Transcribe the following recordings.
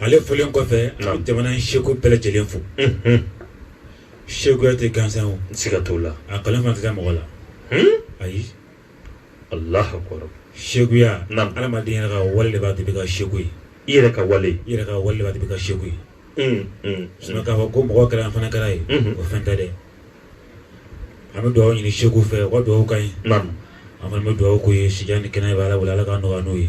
ale folen kɔfɛ a bɛ jamana in sekuw bɛɛ lajɛlen fo sekuya tɛ gansan o siga t'o la a kale ma tɛ mɔgɔ la ayi ala sekuya adamaden yɛrɛ ka wale de b'a to i bɛ kɛ seku ye i yɛrɛ ka wale i yɛrɛ ka wale de b'i kɛ seku ye sinon k'a fɔ ko mɔgɔ kɛra an fana kɛra ye o fɛn tɛ dɛ an bɛ dugawu ɲini sekuw fɛ ka dugawu k'an ye an fana bɛ dugawu k'u ye si ni kɛnɛya b'a la wala ala ka nɔgɔya n'o ye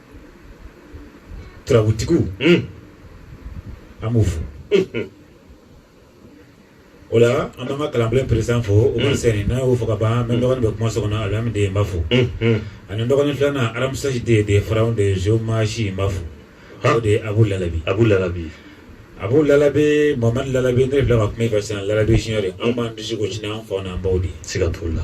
Turabutigiw an b'u fo o la an b'an ka kalanbulon peresidan fo o ma sɛni n'a y'o fo ka ban mɛ dɔgɔnin bɛ kuma so kɔnɔ Alimamu den n b'a fo ani dɔgɔnin filanan Aramusɛki den de Farawuna den Zomasi n b'a fo o de ye Abu Lalabi Abu Lalabi Abu Lalabi Mamadu Lalabi ne filɛ ka kuma e fɛ sisan Lalabi Ziɲɔri anw b'an disi gosi n'an faw n'an baw de ye siga t'o la.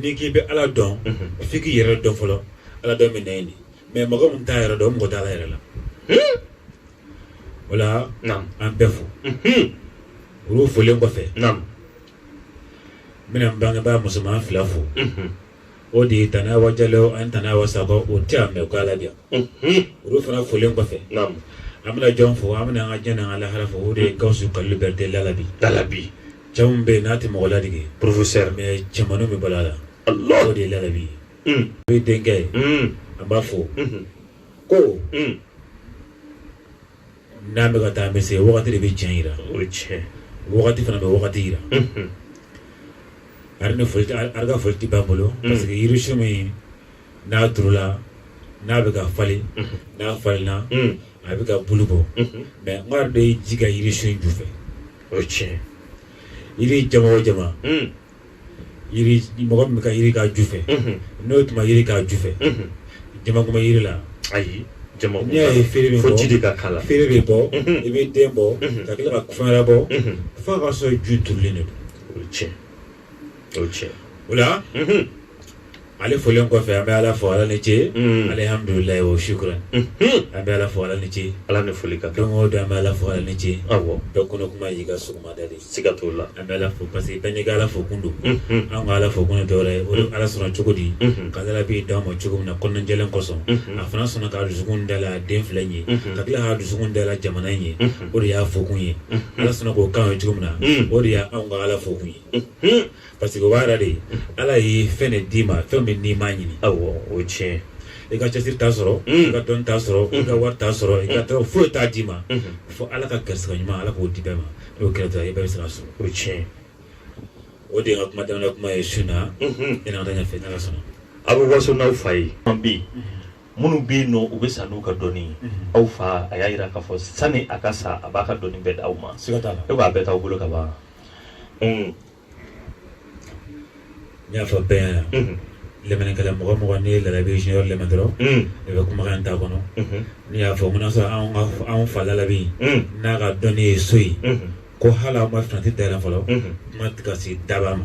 n'i k'i bɛ ala dɔn fo i k'i yɛrɛ dɔn fɔlɔ ala dɔn bɛ naɲini mɛ mɔgɔ min t'a yɛrɛ dɔn mɔgɔ t' ala yɛrɛ la wala an bɛɛ fo olu folen kɔfɛ n bɛna n bangebaga musoman fila fo o de ye tɛnɛnba jalo ani tɛnɛnba sako o tɛ yan mɛ ko ala diya olu fana folen kɔfɛ an bɛna jɔn fo an bɛna an ka diɲɛ an ka lahara fo o de ye gawusu kalilu berete lalabi cɛ min bɛ yen n'a tɛ mɔgɔ ladege professeur mais jamana bɛ balo a la Allah o de ye lalabi ye un o ye denkɛ ye an b'a fɔ unhun ko un n'an bɛ ka taa an bɛ se wagati de bɛ cɛn jira o ye tiɲɛ wagati fana bɛ wagati jira unhun a yɛrɛ ni foli tɛ a yɛrɛ ka foli tɛ ban n bolo parce que yirisun min n'a turula n'a bɛ ka falen n'a falenna a bɛ ka bulu bɔ mɛ maa dɔ de ye ji kɛ yirisun ju fɛ o tiɲɛ yiri jama o jama mɔgɔ min ka ji k'a ju fɛ n'o tun ma ji k'a ju fɛ jama kuma jiri la ayi n'i y'a ye feere bɛ ji de ka k'a la feere bɛ bɔ i bɛ den bɔ ka tila ka fɛn wɛrɛ bɔ fo k'a sɔrɔ ju turulen de don o tiɲɛ o cɛ o la ale folen kɔfɛ an bɛ ala fo ala ni ce alihamdulila wa sukuran an bɛ ala fo ala ni ce ala ni foli ka don o don an bɛ ala fo ala ni ce awɔ bɛɛ kunun kuma y'i ka sɔgɔmada ye siga t'o la an bɛ ala fo parce que bɛɛ n'i ka ala fo kun don an ka ala fo kun dɔw ye o ala sɔnna cogo di ka lalabi d'an ma cogo min na kɔnɔnajɛlen kosɔn a fana sɔnna ka dusukun dayɛlɛ den fila in ye ka tila ka dusukun dayɛlɛ jamana in ye o de y'a fokun ye ala sɔnna k'o k'an ye cogo min na o de ye anw ka ala fokun ye parce que o b'a yɛrɛ de ye ala ye fɛn de d'i ma fɛn min n'i m'a ɲini awɔ o tiɲɛ i ka cɛsiri t'a sɔrɔ i ka dɔn t'a sɔrɔ i ka wari t'a sɔrɔ i ka tɔgɔ foyi t'a d'i ma fo ala ka garisɛgɛ ɲuman ala k'o di bɛɛ ma n'o kɛra dɔrɔn i bɛ se k'a sɔrɔ o tiɲɛ o de ye n ka kuma daminɛ kuma ye sinon i na taa ɲɛfɛ n'ala sɔnna aw bɛ waso n'aw fa ye an bi minnu bɛ yen nɔ u bɛ sa n'u ka dɔnni ye mhm. aw fa a y'a jira k'a fɔ sani a ka sa a b'a ka dɔnni bɛɛ d'aw ma e b'a bɛɛ t'aw bolo ka ban n y'a fɔ bɛɛ yan mhm. lɛmɛnnikɛla mɔgɔ mɔgɔ n'i ye lalabi junior lɛmɛn dɔrɔn mhm. i bɛ kumakan t'a kɔnɔ n'i y'a fɔ n bɛna sɔrɔ anw ka anw fa lalabi n'a ka dɔnni ye so ye ko hali aw ma finɛtiri dayɛlɛ fɔlɔ kuma tɛ ka se daba ma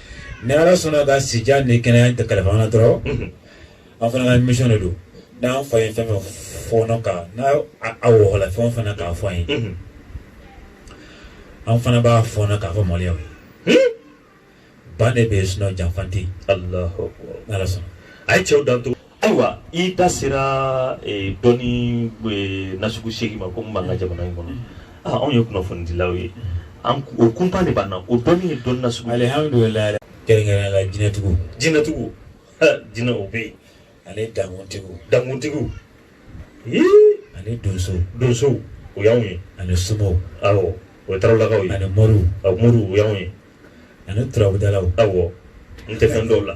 Ni ala sɔnna ka sijan ni kɛnɛya kalifa an na dɔrɔn an fana ka misiyɔn de don n'an fa ye fɛn fɛn fara ɲɔgɔn kan n' awla fɛn fana k'a fɔ an ye an fana b'a fɔɔnɔ k'a fɔ mali ye ban de bɛ sun janfa tɛ ni ala sɔnna a ye cɛw dan to ayiwa i da sera eh, dɔnni eh, nasugu seegin ma ko min b'an ka jamana in kɔnɔ ah, anw ye kunnafonidilaw ye an o kunpa de b'an na o dɔnni ye dɔnni nasugu alihamudulila kɛrɛnkɛrɛn la jinɛtigiw jinɛtigiw jinɛ o bɛ yen ani dankuntigiw dankuntigiw ani donso donsow o y'anw ye ani somaw awɔ o ye tarawelakaw ye ani moriw moriw o y'anw ye ani turabudalaw awɔ n tɛ fɛn dɔw la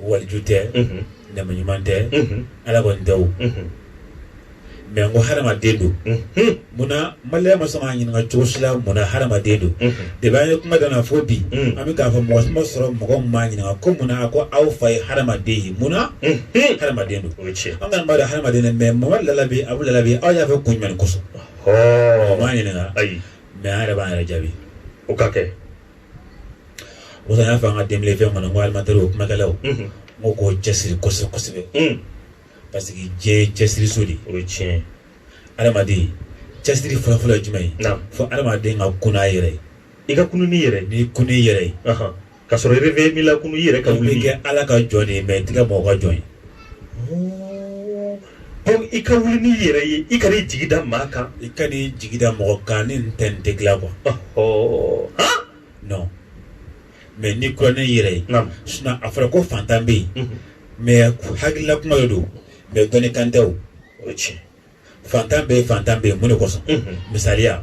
waliju tɛ ne maa ɲuman tɛ ala kɔni tɛ o mɛ n ko hadamaden don munna maliyɛn ma sɔn k'a ɲininka cogo si la munna hadamaden don de b'a ka kuma dan na fo bi an bɛ k'a fɔ mɔgɔ si ma sɔrɔ mɔgɔ ma ɲininka ko munna ko aw fa ye hadamaden ye munna hadamaden don o ye tiɲɛ an ka b'a dɔn hadamaden mɛ mɔgɔ lalabi a bɛ lalabi aw y'a fɛ kun jumɛn kosɔn m'a ɲininka ayi mɛ an yɛrɛ b'an yɛrɛ jaabi o ka kɛ o kosɔn n y'a fɔ an ka denbile fɛn kɔnɔ ko animatɛri o kumakɛlaw n ko k'u cɛsiri kosɛbɛ kosɛbɛ parce que diɲɛ ye cɛsiriso de o ye tiɲɛ ye adamaden cɛsiri fɔlɔfɔlɔ ye jumɛn ye fo adamaden ka kunun n'a yɛrɛ ye i ka kunun n'i yɛrɛ n'i kununna n'i yɛrɛ ye ka sɔrɔ réveil m'i lakunun i yɛrɛ ka wuli kɛ ala ka jɔn de ye mɛ i tɛ kɛ mɔgɔ ka jɔn ye I ka wuli n'i yɛrɛ ye i kan'i jigi da maa kan i kan'i jigi da mɔgɔ kan ni tɛ n tɛ dilan quoi non mɛ n'i kununna n'i yɛrɛ ye sinɔn a fɔra ko fantan bɛ yen mɛ hakilila kuma de don mɛ dɔnni kan tɛ o ye tiɲɛ fantan bɛ yen fantan bɛ yen mun de kosɔn misaliya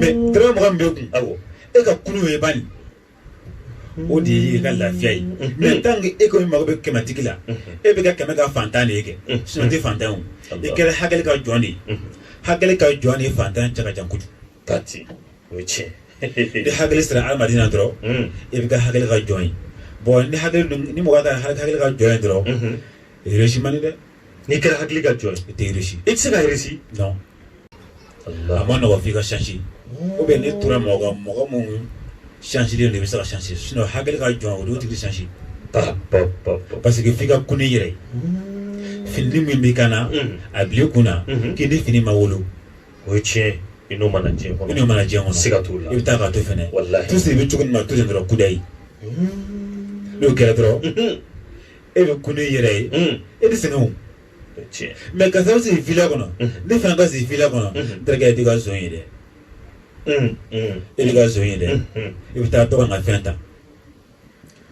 mɛ dɔrɔmɛ mugan b'e kun awɔ e ka kulu ye bani o de y'i ka lafiya ye mɛ tant que e kɔni mago bɛ kɛmɛtigi la e bɛ kɛ kɛmɛ ka fantan de ye kɛ sinɔn tɛ fantan o i kɛra hakili ka jɔn de ye hakili ka jɔn de ye fantan cɛ ka jan kojugu ka ten o ye tiɲɛ ni hakili sera adamaden na dɔrɔn e bɛ kɛ hakili ka jɔn ye bɔn ni hakili ni mɔgɔ kɛra hakili ka jɔn ye dɔrɔn réussir man di dɛ n'i kɛra hakili ka jɔn ye i tɛ réussi i tɛ se ka réussi non a ma nɔgɔ f'i ka changer ou bien n'i tora mɔgɔ kan mɔgɔ minnu changer len don i bɛ se ka changer sinon hakili ka jɔn o don o tigi changer parce que f'i ka kunu i yɛrɛ ye fini min b'i kan na a bila i kun na k'i ni fini ma wolo o ye tiɲɛ ye i n'o ma na diɲɛ kɔnɔ i n'o ma na diɲɛ kɔnɔ siga t'o la i bɛ taa k'a to fɛnɛ walahi tout ce i bɛ cogo min na to ten dɔrɔn kudayi n'o kɛra dɔrɔn e bɛ kunu i yɛrɛ ye e bɛ sɛgɛn mais ka sababu sigi fila kɔnɔ ne fana ka sigi fila kɔnɔ terikɛ i t'i ka zon ye dɛ e b'i ka zon ye dɛ i bɛ taa dɔ ka fɛn ta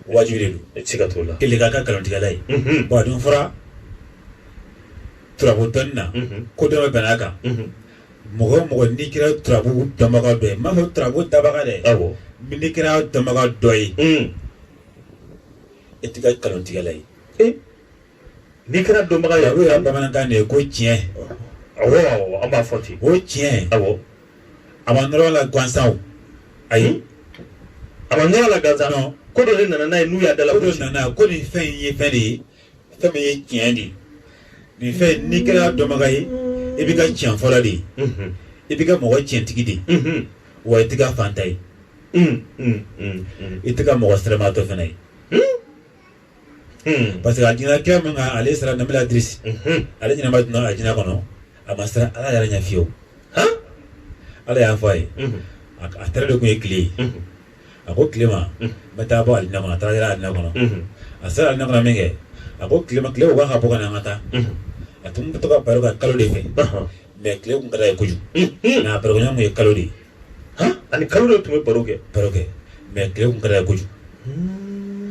wajibi de don siga t'o la kelen k'a ka nkalontigɛla ye bon a dun fɔra turabu dɔnni na ko dɔ bɛn'a kan mɔgɔ o mɔgɔ n'i kɛra turabu dɔnbaga dɔ ye n m'a fɔ turabu dabaga dɛ n'i kɛra dɔnbaga dɔ ye e t'i ka nkalontigɛla ye ee n'i kɛra dɔnbaga ye o yɛrɛ bamanankan de ye ko tiɲɛ awɔ an b'a fɔ ten ko tiɲɛ awɔ a ma nɔrɔ la gansan ayi a ma nɔrɔ la gansan ko dɔ de nana n'a ye n'u y'a d'a la ko dɔ nana ko nin fɛn in ye fɛn de ye fɛn min ye tiɲɛ de ye nin fɛn n'i kɛra dɔnbaga ye i b'i ka tiɲɛfɔla de ye i b'i ka mɔgɔ tiɲɛtigi de ye wa i t'i ka faantan ye i t'i ka mɔgɔ siramaatɔ fana ye parce que a jinɛkɛ min kan ale sera nabila idirisi ale ɲɛnama donna alijinɛ kɔnɔ a ma siran ala yɛrɛ ɲɛ fiyewu ala y'a fɔ a ye a teri de tun ye tile ye a ko tile ma n bɛ taa bɔ alijina kɔnɔ a taara yɛrɛ alijina kɔnɔ a sera alijina kɔnɔ min kɛ a ko tile ma tile ko k'a ka bɔ ka na an ka taa a tun bɛ to ka baro kɛ kalo de fɛ mais tile tun ka d'a ye kojugu nka a barokɛɲɔgɔn tun ye kalo de ye han ani kalo de tun bɛ baro kɛ baro kɛ mais tile kun ka d'a ye kojugu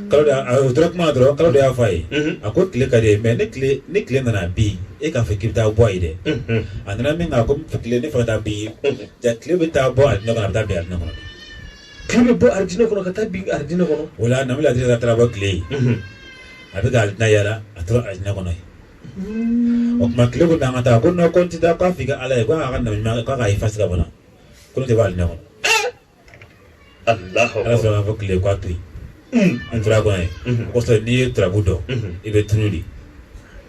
kalo de a o tora kuma na dɔrɔn kalo de y'a fɔ a ye a ko tile ka d'i ye mais ni tile ni tile nana bi e k'a fɔ k'i bɛ taa bɔ a ye dɛ a nana minkɛ ko tile ne fana taa bi jaa tile bɛ taa bɔ alijinɛ kɔnɔ a bɛ taa bin alijinɛ kɔnɔ tile bɛ bɔ alijinɛ kɔnɔ ka taa bin alijinɛ kɔnɔ o la nabila idirisi taara bɔ tile ye a bɛ ka alijinɛ yaala a tora alijinɛ kɔnɔ yen o tuma tile ko n'an ka taa ko non ko n tɛ taa k'a f'i ka ala ye ko a ka nabi ɲuman k'a k'a effacer ka bɔ n na ko ne tɛ bɔ alijinɛ kɔnɔ ala sɔnna ko tile k'a to yen a tora kɔnɔ yen o kosɔn n'i ye turabu dɔn i bɛ tunu de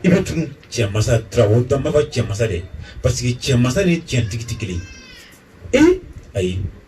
i bɛ tunu cɛ masa turabu dɔn n b'a fɔ cɛ masa de parce que cɛ masa ni cɛntigi tɛ kelen ye ee ayi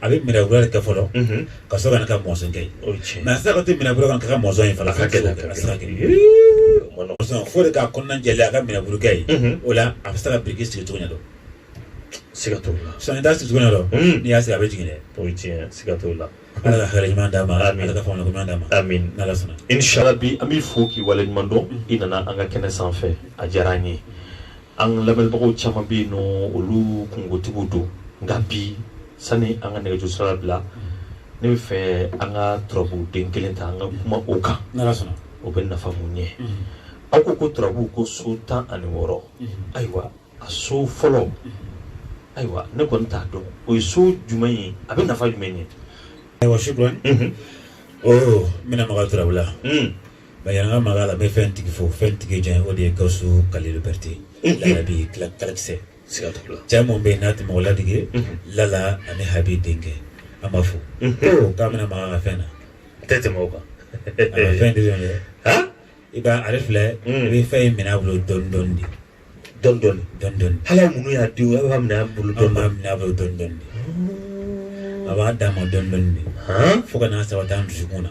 a bɛ minɛfuru kɛ fɔlɔ ka sɔrɔ ka ka mɔzɔn kɛ mais a sera ka to minɛfuru kan ka ka mɔzɔn in fana ka gɛlɛn fo de k'a kɔnɔna jɛ a ka minɛfurukɛ ye o la a bɛ se ka biriki sigi cogo dɔn siga t'o la sinon i t'a sigi cogoya dɔn n'i y'a sigi a bɛ jigin dɛ o ye tiɲɛ siga t'o la ala ka hakili ɲuman d'a ma ala ka faamuyali ɲuman d'a ma n'ala sɔnna inshallah rabi an b'i fo k'i wale ɲuman dɔn i nana an ka kɛnɛ sanfɛ a diyara an ye An lamɛnbagaw caman bɛ yen nɔn olu kungotigiw don nka bi sani an ka nɛgɛjuru sira labila ne bɛ fɛ an ka turabu den kelen ta an ka kuma o kan o bɛ nafa mun ɲɛ aw ko ko turabu ko so tan ani wɔɔrɔ ayiwa a so fɔlɔ ayiwa ne kɔni t'a dɔn o ye so jumɛn ye a bɛ nafa jumɛn ɲɛ ayiwa shukran n bɛna maga turabu la Ba an ka maga a la n bɛ fɛn tigi fo fɛn tigi jɔn o de ye gawusu kalilu berete lalabi kalakisɛ siga t'o la cɛ min bɛ yen n'a tɛ mɔgɔ ladege lala ani habi denkɛ an b'a fo k'a bɛna maga fɛn na tɛ tɛmɛ kan fɛn de i b'a ale filɛ i bɛ fɛn in minɛ bolo dɔɔni dɔɔni de dɔɔni dɔɔni ala min y'a di a b'a minɛ a bolo dɔɔni b'a minɛ a bolo dɔɔni dɔɔni a b'a d'a ma dɔɔni dɔɔni de fo ka n'a sabati a dusukun na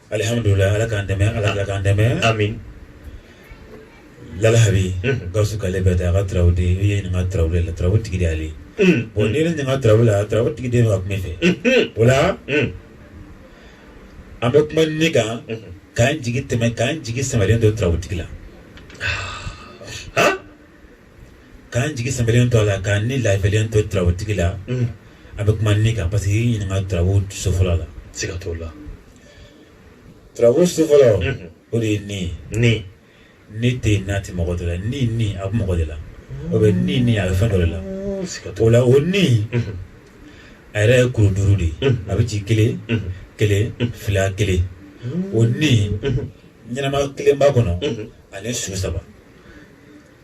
Alihamdulila ala k'an dɛmɛ ala ka k'an dɛmɛ amin lalabi gawusu kalilu berete a ka turabu de i ye ɲininka turabu la turabu tigi de ale bon ne ɲininka turabu la turabu tigi de bɛ ka kuma i fɛ o la an bɛ kuma ne kan k'an jigi sɛmɛ k'an jigi sɛmɛlen to turabu tigi la k'an jigi sɛmɛlen to a la k'an ni laafiyalen to turabutigi la an bɛ kuma ne kan parce que i ye ɲininka turabu so fɔlɔ la siga t'o la turabu so fɔlɔ o de ye ni ni ni tɛ yen n'a tɛ mɔgɔ dɔ la ni ni a bɛ mɔgɔ de la o bɛ ni ni a bɛ fɛn dɔ de la o la o ni a yɛrɛ ye kuru duuru de ye a bɛ ci kelen kelen fila kelen o ni ɲɛnama kelen b'a kɔnɔ ani su saba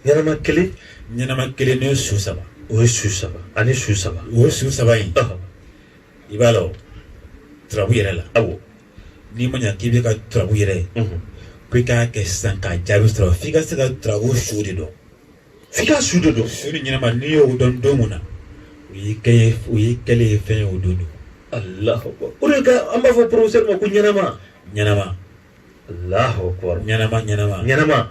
ɲɛnama kelen ɲɛnama kelen ni su saba o ye su saba ani su saba o ye su saba in i b'a la o turabu yɛrɛ la awɔ n'i ma ɲa k'i bɛ se ka turabu yɛrɛ ye ko i k'a kɛ sisan k'a jaabi sɔrɔ f'i ka se ka turabu su de dɔn f'i ka su de dɔn su ni ɲɛnama n'i y'o dɔn don mun na o y'i kɛ ye o y'i kɛlen ye fɛn ye o don don alahu o de ka an b'a fɔ porofesɛri ma ko ɲɛnama ɲɛnama ɲɛnama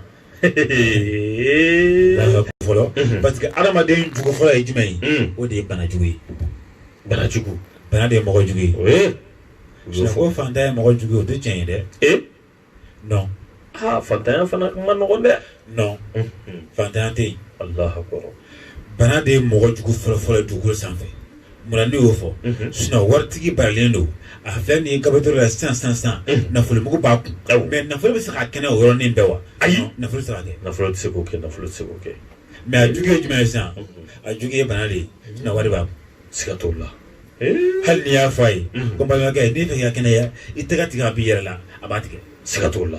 fɔlɔ mhm. parce que adamaden jugu fɔlɔ ye jumɛn ye mhm. o de ye bana jugu ye bana jugu bana de ye mɔgɔ jugu ye ko fantanya ye mɔgɔ jugu ye o tɛ tiɲɛ ye dɛ eh? non aa fantanya fana man nɔgɔn dɛ non mhm. fantanya tɛ yen bana de ye mɔgɔ jugu fɔlɔ fɔlɔ dugukolo sanfɛ munna ne y'o fɔ sinon waritigi baralen don a filɛ nin kabato la sisan sisan sisan nafolomugu b'a kun mais nafolo bɛ se ka kɛnɛ o yɔrɔnin bɛɛ wa ayi nafolo sara nafolo tɛ se k'o kɛ nafolo tɛ se k'o kɛ mais a jugu ye jumɛn ye sisan a jugu ye bana de ye sinon wari b'a kun siga t'o la hali n'i y'a fɔ a ye ko balimakɛ n'i bɛ fɛ ka kɛnɛya i tɛgɛ tigɛ a bɔ i yɛrɛ la a b'a tigɛ siga t'o la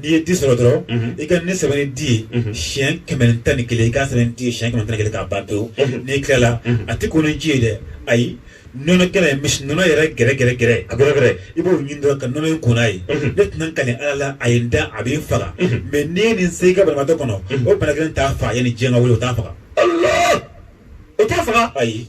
n'i ye di sɔrɔ dɔrɔn i ka nin sɛbɛn ni di ye siyɛn kɛmɛ tan ni kelen i k'a sɛbɛn di ye siyɛn kɛmɛ tan kelen k'a ba to n'i tilala a tɛ ko ni ji ye dɛ ayi nɔnɔ kɛnɛ misi nɔnɔ yɛrɛ gɛrɛ gɛrɛ gɛrɛ a gɛrɛ i b'o ɲini dɔrɔn ka nɔnɔ in ko n'a ye ne tɛna n kali ala la a ye n da a bɛ n faga mais n'i ye nin se i ka banabagatɔ kɔnɔ o bana kelen t'a faga yanni diɲɛ ka wuli o t'a faga o t'a faga ayi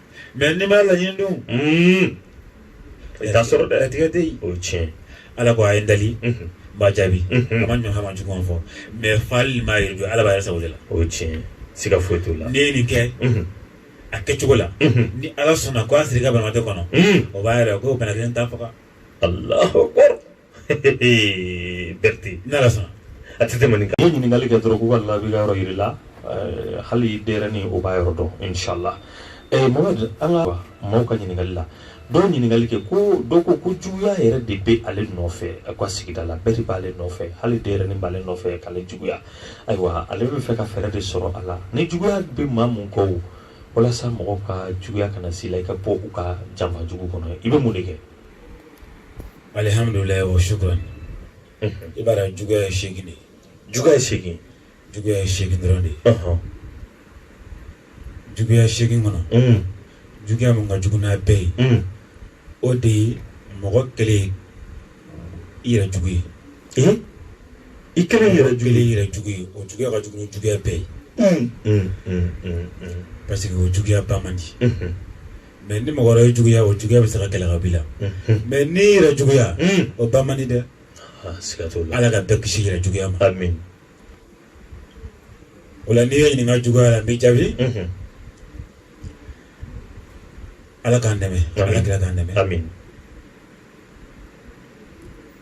mais n'i m'a laɲini dun Mm. I t'a sɔrɔ dɛ. latigɛ tɛ yen O ye tiɲɛ. ala ko a ye n dali Mhm. n b'a jaabi Mhm. a ma ɲɔgɔn ma jugu fɔ mais fali ma yɛrɛ don ala b'a yɛrɛ sago de la O ye tiɲɛ. Siga foyi t'o la. n'i ye nin kɛ Mhm. a kɛcogo la Mhm. ni ala sɔnna ko a sera i ka banabaatɔ kɔnɔ Mm. o b'a yira ko bana kelen t'a faga Allahu akbar. Berti n'ala sɔnna a tɛ tɛmɛ nin kan i ye ɲininkali kɛ dɔrɔn k'u ka labi ka yɔrɔ yira i la eh, hali denyɛrɛni o b'a yɔrɔ dɔn inshallah eh, mohamɛd an ka maaw ka ɲininkali la dɔw ɲininkali kɛ ko dɔw ko ko juguya yɛrɛ de bɛ ale nɔfɛ a ka sigida la bɛɛ de b'ale nɔfɛ hali denyɛrɛni b'ale nɔfɛ k'ale juguya ayiwa ale bɛ fɛ ka fɛɛrɛ de sɔrɔ a la ni juguya bɛ maa min kɔ o walasa mɔgɔw ka juguya kana s'i la i ka bɔ u ka janfa jugu kɔnɔ i bɛ mun de kɛ alihamdulilayi wa shukuran i b'a dɔn juguya ye seegin de ye juguya ye seegin juguya ye seegin dɔrɔn de ye juguya seegin kɔnɔ juguya min ka jugu n'a bɛɛ ye o de ye mɔgɔ kɛlen i yɛrɛ jugu ye i kɛlen yɛrɛ jugu i yɛrɛ jugu ye o juguya ka jugu ni juguya bɛɛ ye parce que o juguya ban man di mais ni mɔgɔ wɛrɛ juguya o juguya bɛ se ka kɛlɛ ka b'i la mais n'i yɛrɛ juguya o ban man di dɛ ala ka bɛɛ kisi yɛrɛ juguya ma o la n'i ye n ɲininka juguya la n b'i jaabi ala k'an dɛmɛ ala kira k'an dɛmɛ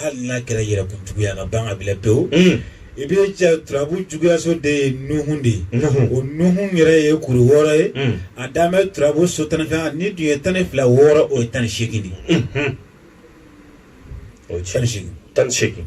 hali n'a kɛra yɛrɛkun juguya ka ban ka b'i la pewu i bɛ cɛ turabu juguyaso de ye nuhun de ye o nuhun yɛrɛ ye kuru wɔɔrɔ ye a dan bɛ turabu so tan ni fila n'i dun ye tan ni fila wɔɔrɔ o ye tan ni seegin de ye o ye tan ni seegin tan ni seegin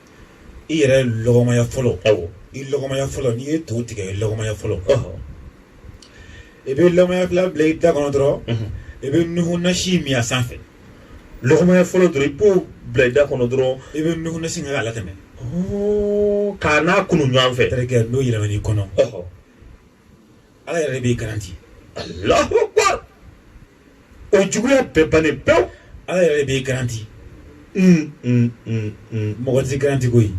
i yɛrɛ lɔgɔmaya fɔlɔ awɔ i lɔgɔmaya fɔlɔ n'i ye to tigɛ i lɔgɔmaya fɔlɔ i bɛ lɔgɔmaya fila bila i da kɔnɔ dɔrɔn i bɛ nuhu nasi min a sanfɛ lɔgɔmaya fɔlɔ dɔrɔn i b'o bila i da kɔnɔ dɔrɔn i bɛ nuhu nasi k'a latɛmɛ k'a n'a kunu ɲɔgɔn fɛ terikɛ n'o yɛlɛman'i kɔnɔ ala yɛrɛ b'i garanti Allahu akbar o juguya bɛɛ bannen pewu ala yɛrɛ b'i garanti mɔgɔ tɛ garanti koyi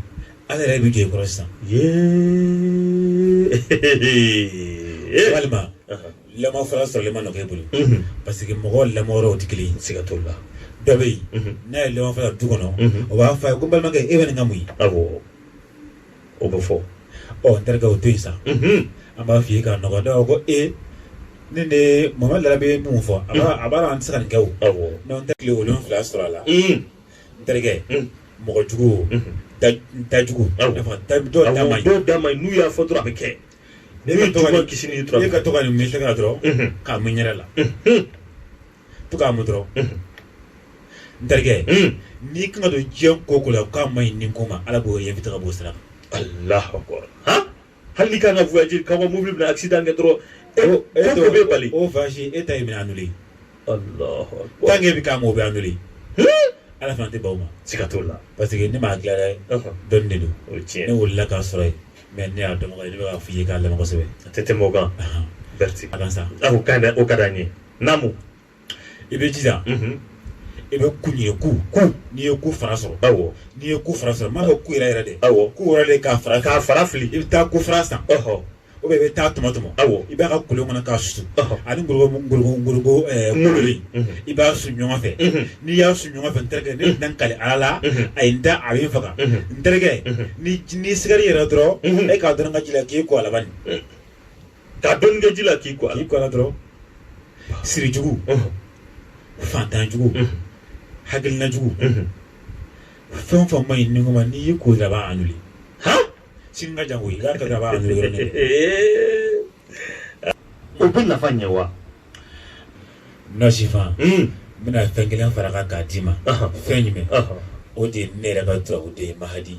ala yɛrɛ bɛ jɔ i kɔrɔ sisan walima lamɔ fara sɔrɔlen ma nɔgɔya i bolo parce que mɔgɔ lamɔyɔrɔw tɛ kelen ye siga t'o la dɔ bɛ yen n'a ye lamɔ fara du kɔnɔ o b'a fɔ a ye ko n balimakɛ e bɛ nin ka mun ye o bɛ fɔ ɔ n terikɛ o to yen sa an b'a f'i ye k'a nɔgɔ ne ko e ne de mama da bɛ mun fɔ a b'a la an tɛ se ka nin kɛ o n'an tɛ tile wolon wolonwula sɔrɔ a la n terikɛ mɔgɔjugu dajugu dɔw da man ɲi n'u y'a fɔ dɔrɔn a bɛ kɛ ne bɛ kisi ka tɔgɔ nin mi ka dɔrɔn k'a mun i yɛrɛ la to k'a mun dɔrɔn n terikɛ n'i kan ka don diɲɛ ko o ko la k'a man ɲi nin ko ma ala b'o évité ka b'o sira kan alahu akbar hali n'i kan ka voyage ka bɔ mobili bɛna accident kɛ dɔrɔn e ko bɛ bali o voyage e ta ye minɛ annulé alahu akbar tant que e bɛ k'a ma o bɛ annulé ala fana tɛ ban o ma siga t'o la parce que ne m'a dilan dɛ dɔnni de don o ye tiɲɛ ne wulila k'a sɔrɔ yen mais ne y'a dɔn ne bɛ k'a f'i ye k'a lamɛn kosɛbɛ a tɛ tɛmɛ o kan berti a kan sa o ka d'an ye Naamu i bɛ jija i bɛ ku ɲini ku n'i ye ku fara sɔrɔ awɔ n'i ye ku fara sɔrɔ n m'a fɔ ku yɛrɛ yɛrɛ dɛ awɔ ku yɛrɛ de k'a fara k'a fara fili i bɛ taa ku fara san ou bien i bɛ taa tɔmɔ tɔmɔ awɔ i b'a ka kolon kɔnɔ k'a susu ani i b'a su ɲɔgɔn fɛ n'i y'a su ɲɔgɔn fɛ n terikɛ ne tɛna n kali ala la a ye n da a bɛ n faga n terikɛ ni siri yɛrɛ dɔrɔn e k'a dɔ ka ji la k'i ko a la K'a dɔɔnin kɛ ji la k'i ko k'i ko dɔrɔn sirijugu fatanjugu hainajugu fɛn o fɛn man ɲi ni ko ma n'i y'i ko a b'a annulé sini ka jan i ka laban an o bɛ nafa ɲɛ wa nɔsifan n bɛna fɛn kelen fara kan k'a d'i ma fɛn jumɛn o de ye ne yɛrɛ ka dugawu o de ye mahadi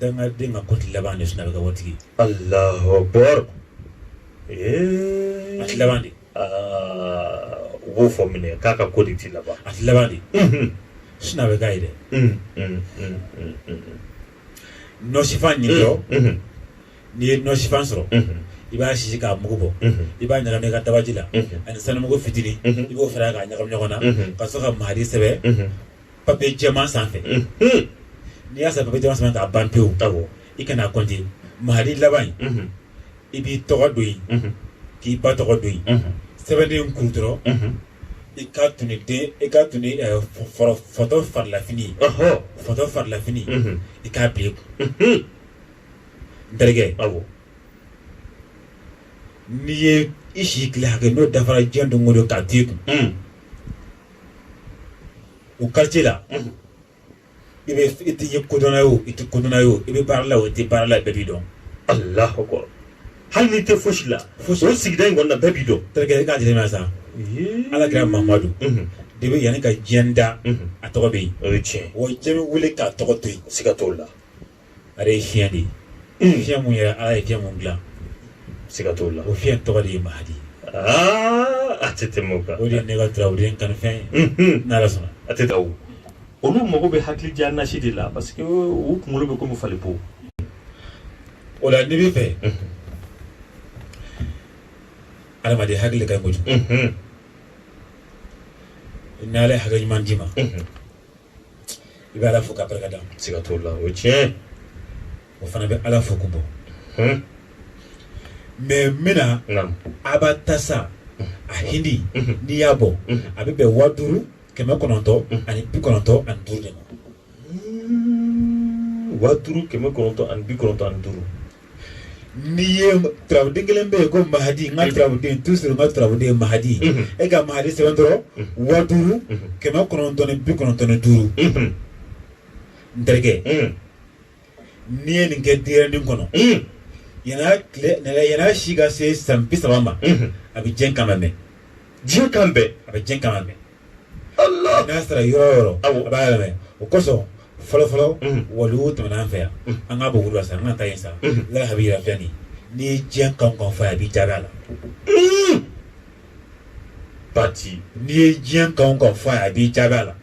Dangaden ka ko tɛ laban dɛ sinon a bɛ kɛ waritigi ye. Alahu akibaru ee a tɛ laban de, aa u b'o fɔ minɛ k'a ka ko de tɛ laban, a tɛ laban de, unhun, sinon a bɛ k'a ye dɛ, un un un nɔsifan ɲini dɔrɔn, unhun, n'i ye nɔsifan sɔrɔ, unhun, i b'a sisi k'a mugu bɔ, unhun, i b'a ɲagami i ka dabaji la, unhun, ani sanumugu fitinin, unhun, i b'o fara a kan k'a ɲagami ɲɔgɔn na, unhun, ka sɔrɔ ka mahadi sɛbɛn, unhun papiye jɛman sanfɛ n'i y'a sɛbɛn papiye jɛman sanfɛ k'a ban pewu i kana kɔnte mahadi laban in i b'i tɔgɔ don yen k'i ba tɔgɔ don yen sɛbɛnden kuru dɔrɔn i ka tun den i ka tun fɔtɔ farilafini fɔtɔ farilafini i k'a bila i kun n terikɛ aw n'i ye i si tile hakɛ n'o dafara diɲɛ don o don k'a to i kun o quartier la unhun i bɛ i tɛ ye kodɔnna ye o i tɛ kodɔnna ye o i bɛ baara la o i tɛ baara la bɛɛ b'i dɔn alahu akbar hali n'i tɛ fosi la fosi o sigida in kɔnɔna bɛɛ b'i dɔn terikɛ i k'a jateminɛ sa ala kira mamadu unhun de bɛ yanni ka diɲɛ da unhun a tɔgɔ bɛ yen o ye tiɲɛ wa diɲɛ bɛ wuli k'a tɔgɔ to yen siga t'o la ale ye fiɲɛ de ye fiɲɛ mun yɛrɛ ala ye fiɲɛ mun dilan siga t'o la o fiɲɛ tɔgɔ de ye mahadi a tɛ tɛmɛ o kan o de ye ne ka turabuden kanufɛn ye n'ala sɔnna a tɛ taa o olu mago bɛ hakili diya nasi de la parce que u kunkolo bɛ komi falibo o la n'i b'a fɛ adamaden hakili ka ɲi kojugu n'ala ye hakili ɲuman d'i ma i bɛ ala fo k'a barika da siga t'o la o ye tiɲɛ o fana bɛ ala fo ko bɔ hmm. mɛ mina abatasa a hindi hmm. n'i y'a bɔ hmm. a bɛ bɛn waa duuru kɛmɛ kɔnɔntɔn ani bi kɔnɔntɔn ani duuru de ma waa duuru kɛmɛ kɔnɔntɔn ani bi kɔnɔntɔn ani duuru n'i ye turabuden kelen bɛ yen ko mahadi n ka turabuden toujours n ka turabuden ye mahadi e ka mahadi sɛbɛn dɔrɔn wa duuru kɛmɛ kɔnɔntɔn ni bi kɔnɔntɔn ni duuru n terikɛ n'i ye nin kɛ denyɛrɛnin kɔnɔ yanni tile nɛgɛ yann'a si ka se san bi saba ma a bɛ diɲɛ kan mɛn diɲɛ kan bɛɛ a bɛ diɲɛ kan mɛn Allah n'a sera yɔrɔ o yɔrɔ a b'a yɛlɛmɛ o kosɔn fɔlɔfɔlɔ waliw tɛmɛna an fɛ yan an ka bugu la sa an ka taa yen sa lalabi yɛrɛ fa nin n'i ye diɲɛ kan o kan fɔ a b'i jaabi a la pati n'i ye diɲɛ kan kan fɔ a b'i jaabi a la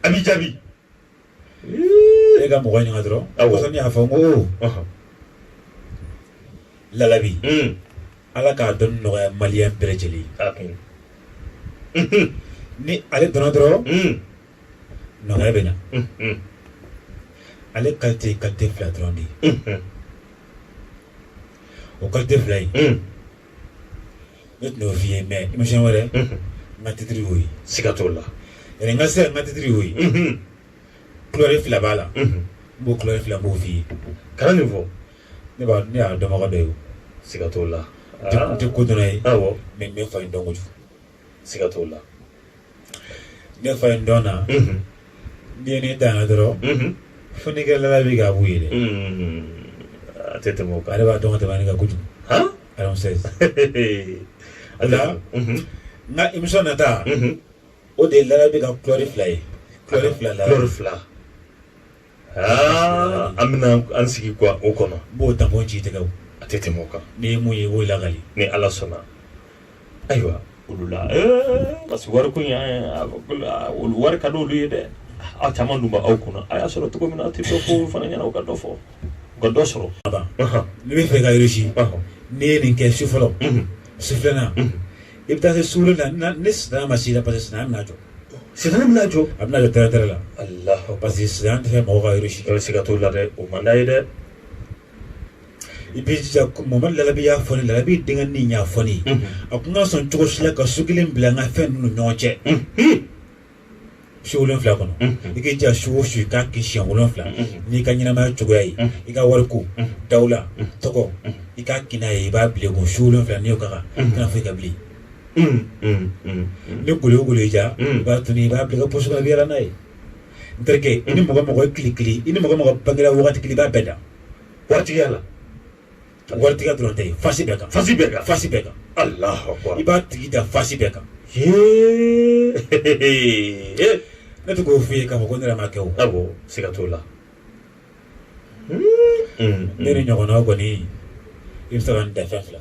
a b'i jaabi e ka mɔgɔ ɲininka dɔrɔn kosɔn ne y'a fɔ n ko lalabi ala k'a dɔn nɔgɔya maliyɛn bɛɛ lajɛlen ni ale dɔnna dɔrɔn nɔgɔya bɛ na ale kalite kalite fila dɔrɔn de ye o kalite fila ye ne tun y'o f'i ye mɛ émission wɛrɛ n ka titiri y'o ye siga t'o la yɛrɛ n ka se ka n ka titiri y'o ye kulɛri fila b'a la n b'o kulɛri fila n b'o f'i ye kana nin fɔ ne b'a ne y'a dɔnbaga dɔ ye o siga t'o la n tɛ kodɔnna ye awɔ mɛ n bɛ fan in dɔn kojugu siga t'o la ne fa ye n dɔn na n'i ye ne danna dɔrɔn fo n'i kɛra lalabi k'a b'u ye dɛ a tɛ tɛmɛ o kan ale b'a dɔn ka tɛmɛ ne kan kojugu alors c'est o la n ka émission nata o de ye lalabi ka kulɛri fila ye kulɛri fila la kulɛri fila Aa an bɛna an sigi quoi o kɔnɔ n b'o tampon ci i tɛgɛ a tɛ tɛmɛ o kan n'i ye mun ye i b'o lakali ni ala sɔnna ayiwa olu la parce que wari ko wari ka di olu ye dɛ aw caman dun b'aw kunna a y'a sɔrɔ cogo min na aw tɛ dɔ fɔ olu fana ɲɛna ka dɔ fɔ ka dɔ sɔrɔ ne bɛ fɛ ka réussi n'i ye nin kɛ su fɔlɔ su filanan i bɛ taa se su wolonwula ni sitanɛ ma s'i la parce que sitanɛ bɛna jɔ sitanɛ bɛna jɔ a bɛna jɔ tɛrɛtɛrɛ la parce que sitanɛ tɛ fɛ mɔgɔw ka réussi siga t'o la dɛ o man d'a ye dɛ i b'i jija mamadu lalabi y'a fɔ ne lalabi denkɛ ni y'a fɔ ne a kana sɔn cogo si la ka su kelen bila n ka fɛn ninnu ni ɲɔgɔn cɛ su wolonwula kɔnɔ i k'i jija su o su i k'a kɛ siɲɛ wolonwula n'i ka ɲɛnamaya cogoya ye i ka wari ko dawula tɔgɔ i k'a kɛ n'a ye i b'a bila i kun su wolonwula n'i y'o k'a kan i kana foyi kɛ bilen ni golo o golo y'i diya i b'a tunu i b'a bila i ka posi kɔnɔ i bɛ yaala n'a ye n terikɛ i ni mɔgɔ o mɔgɔ ye kile kelen i ni mɔgɔ o mɔgɔ bangera wagati kelen i b'a bɛɛ dan waritigiya la waritigiya dɔrɔn tɛ fasi bɛɛ kan fasi bɛɛ kan fasi bɛɛ kan alahu i b'a tigi dan fasi bɛɛ kan ne tɛ k'o f'i ye k'a fɔ ko ne yɛrɛ m'a kɛ o awɔ siga t'o la ne ni ɲɔgɔnnaw kɔni i bɛ se ka n dan fɛn fila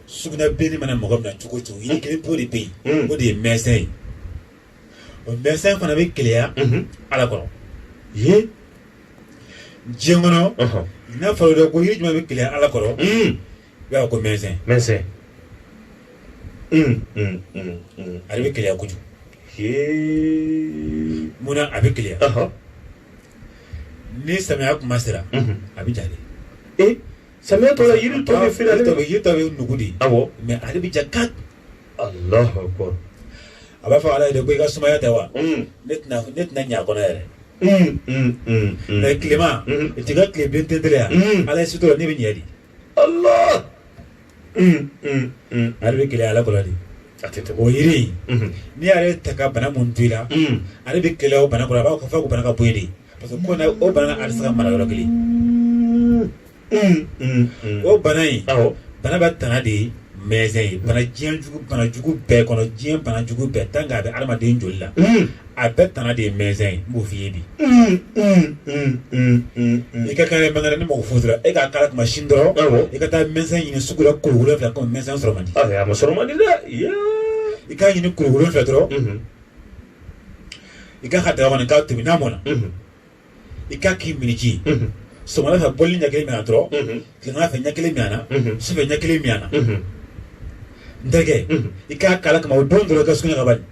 Sugunɛbilenni mana mɔgɔ minɛ cogo o cogo yiri kelen pe de bɛ yen o de ye mɛnsɛn ye o mɛnsɛn fana bɛ keleya Ala kɔrɔ diɲɛ kɔnɔ n'a fɔra dɛ ko yiri jumɛn bɛ keleya Ala kɔrɔ i b'a fɔ ko mɛnsɛn ale bɛ keleya kojugu munna a bɛ keleya ni samiya tuma sera a bɛ ja de. Samiya tɔ yiri tɔ bɛ feere yiri tɔ bɛ nugu de a mais ale bɛ ja ka a b'a fɔ ala ye ko i ka sumaya tɛ wa ne tɛna ɲɛ kɔnɔ yɛrɛ mais tilema i t'i ka tile bilen tɛtɛ yan ala ye sutura ne bɛ ɲɛ de ale bɛ keleya ala kɔrɔ de o yiri in n'i y'ale ta ka bana min to i la ale bɛ keleya o bana kɔrɔ a b'a fɔ k'o bana ka bɔ yen de parce que ko na o bana ale tɛ se ka mara yɔrɔ kelen o bana in bana bɛɛ tana de ye mɛnsɛn ye bana diɲɛ jugu bana jugu bɛɛ kɔnɔ diɲɛ bana jugu bɛɛ tant que a bɛ adamaden joli la a bɛɛ tana de ye mɛnsɛn ye n b'o f'i ye bi i ka kan bangara ni mɔgɔ fo dɔrɔn e k'a kala kuma sin dɔrɔn awɔ i ka taa mɛnsɛn ɲini sugu la kuru wolonwula kɔmi mɛnsɛn sɔrɔ man di a ma sɔrɔ man di dɛ yaa i k'a ɲini kuru wolonwula dɔrɔn i k'a kɛ daga kɔnɔ k'a tobi n'a mɔna i k'a k'i miniji sɔgɔmada fɛ bɔli ɲɛ kelen min a na dɔrɔn tilegan fɛ ɲɛ kelen min a na sufɛ ɲɛ kelen min a na n terikɛ i k'a kala kama o don dɔrɔn i ka sugunɛ kɛ bani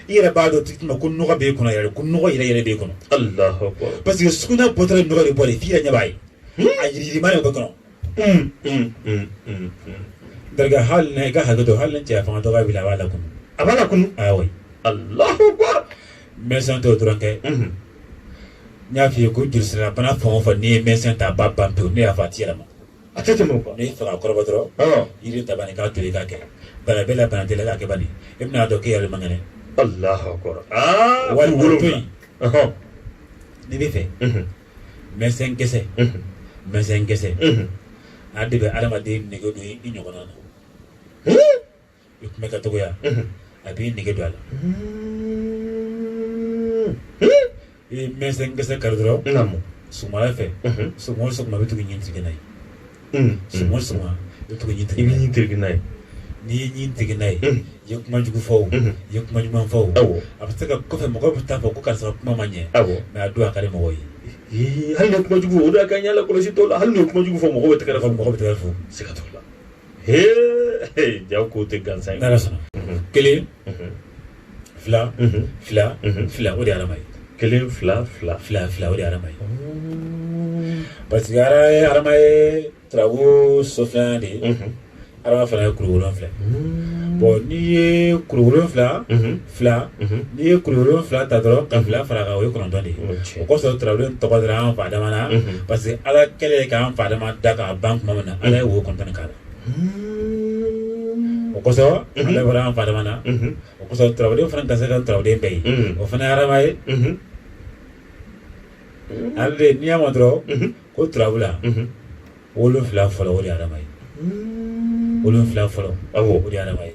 i yɛrɛ b'a dɔn tuma ko nɔgɔ b'e kɔnɔ yɛrɛ ko nɔgɔ yɛrɛ yɛrɛ b'e kɔnɔ parce que sugunɛ bɔtɔla nɔgɔ de bɔra f'i yɛrɛ ɲɛ b'a ye a yiriyirima de b'e kɔnɔ N terikɛ hali na i ka hakɛ to hali ni cɛya fanga dɔgɔya b'i la a b'a lakunu, a b'a lakunu, ah oui, Alahu akbar, mɛsɛn t'o dɔrɔn kɛ, unhun, n y'a fɔ i ye ko jolisilabana fɛn o fɛn n'i ye mɛsɛn ta a b'a ban pewu ne y'a fɔ a tɛ yɛlɛma, a tɛ tɛmɛ o kan, n'i y'a fɛ k'a kɔrɔbɔ dɔrɔn, ɔɔ, yiri ta bani k'a tobi k'a kɛ bana b'e la bana t'e la k'a kɛ bani i bɛna a dɔn k'e yɛrɛ de man kɛnɛ, Alahu akbar, aa, wali wolo to yen, ɔhɔ, n'i bɛ fɛ, unhun mɛsɛn gɛsɛ mɛsɛn gɛsɛ a de bɛ adamaden nege don i ɲɔgɔn na i tun bɛ ka tɔgɔya a b'i nege don a la i ye mɛsɛn gɛsɛ kari dɔrɔn sɔgɔmada fɛ sɔgɔma o sɔgɔma i bɛ to ka ɲin tereke n'a ye Unhun. Sɔgɔma sɔgɔma i bɛ to ka ɲin tereke n'a ye. N'i ye ɲin tereke n'a ye. Unhun. I ye kuma jugu fɔ o. Unhun. I ye kuma ɲuman fɔ o. Awɔ. A bɛ se ka kɔfɛ mɔgɔw bɛ taa fɔ ko karisa ka kuma ma ɲɛ. Awɔ. Mais a don a ka di mɔgɔw ye. Ee hali n'i ye kuma jugu fɔ o de y'a kɛ an y'a lakɔlɔsi dɔw la hali n'u ye kuma jugu fɔ mɔgɔw bɛ tɛgɛrɛ fɔ mɔgɔw bɛ tɛgɛrɛ fɔ. Siga t'o la. Hee jaa ko tɛ gansan ye. N'Ala sɔnna. Unhun. Kelen. Unhun. fila fila fila o de ye adama ye kelen fila fila fila fila o de ye adama ye parce que adama ye turabu so filanan de ye adama fana ye kuru wolonfila ye bɔn n'i ye kuru wolonfila n'i ye kuru wolonfila ta dɔrɔn ka fila fara kan o ye kɔnɔntɔn de ye o kɔsɔn turabu tɔgɔ dara an fa adama na parce que ala kɛlen k'an fa adama da k'a ban tuma min na ala ye wo kɔnɔntɔn k'a la o kosɔn ale bɔra an fa adama na o kosɔn turabuden fana ka se ka turabuden bɛɛ ye o fana ye adama ye ale de n'i y'a mɛn dɔrɔn ko turabu la wolonfila fɔlɔ o de ye adama ye wolonfila fɔlɔ o de ye adama ye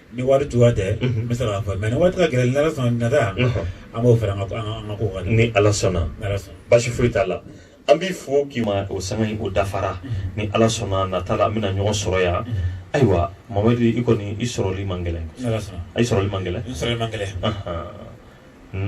Ni waati tun tɛ n bɛ se k'a fɔ mɛ ni waati g emisiyɔn nata an b'o fara a kan ni ala sɔnna basi foyi t'a la an b'i fo k'i ma o sanga o dafara ni ala sɔnna nata la an bɛna ɲɔgɔn sɔrɔ yan ayiwa mamadi i kɔni i sɔrɔli man gɛlɛn i sɔrɔli man gɛlɛn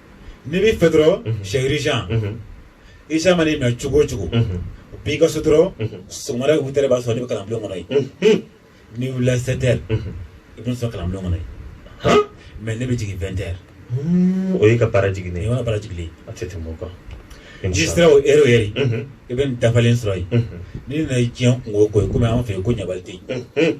N'i bɛ fɛ dɔrɔn sɛri i mana minɛ cogo o cogo b'i ka so dɔrɔn sɔgɔma huit heures b'a sɔrɔ ne bɛ kalan bulon kɔnɔ yen n'i wulila sept heures i bɛ sɔrɔ kalan bulon kɔnɔ yen mais ne bɛ jigin vingt heures o y'i ka baara jigin i ka baara jigin a tɛ tɛmɛ o kan n'i sera o heure yɛrɛ i bɛ dafalen sɔrɔ yen n'i nana diɲɛ kungo ko kɔmi an fɛ yen ko ɲagali tɛ yen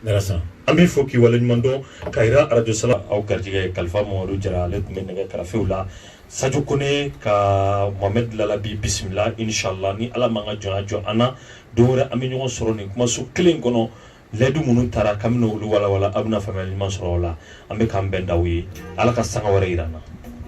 N'ala sɔnna an b'i fo k'i waleɲuman dɔn ka jira arajo sala aw garijɛgɛ kalifa mamadu jara ale tun bɛ nɛgɛ karafew la sajo kɔnɛ ka mɔhamɛdi lalabi bisimila inshallah ni ala ma an ka jɔnya jɔ an na don wɛrɛ an bɛ ɲɔgɔn sɔrɔ nin kumaso kelen kɔnɔ layidu minnu tara ka olu walawala aw bɛna faamuya ɲuman sɔrɔ o la an bɛ k'an bɛn d'aw ye ala ka sanga wɛrɛ jira an na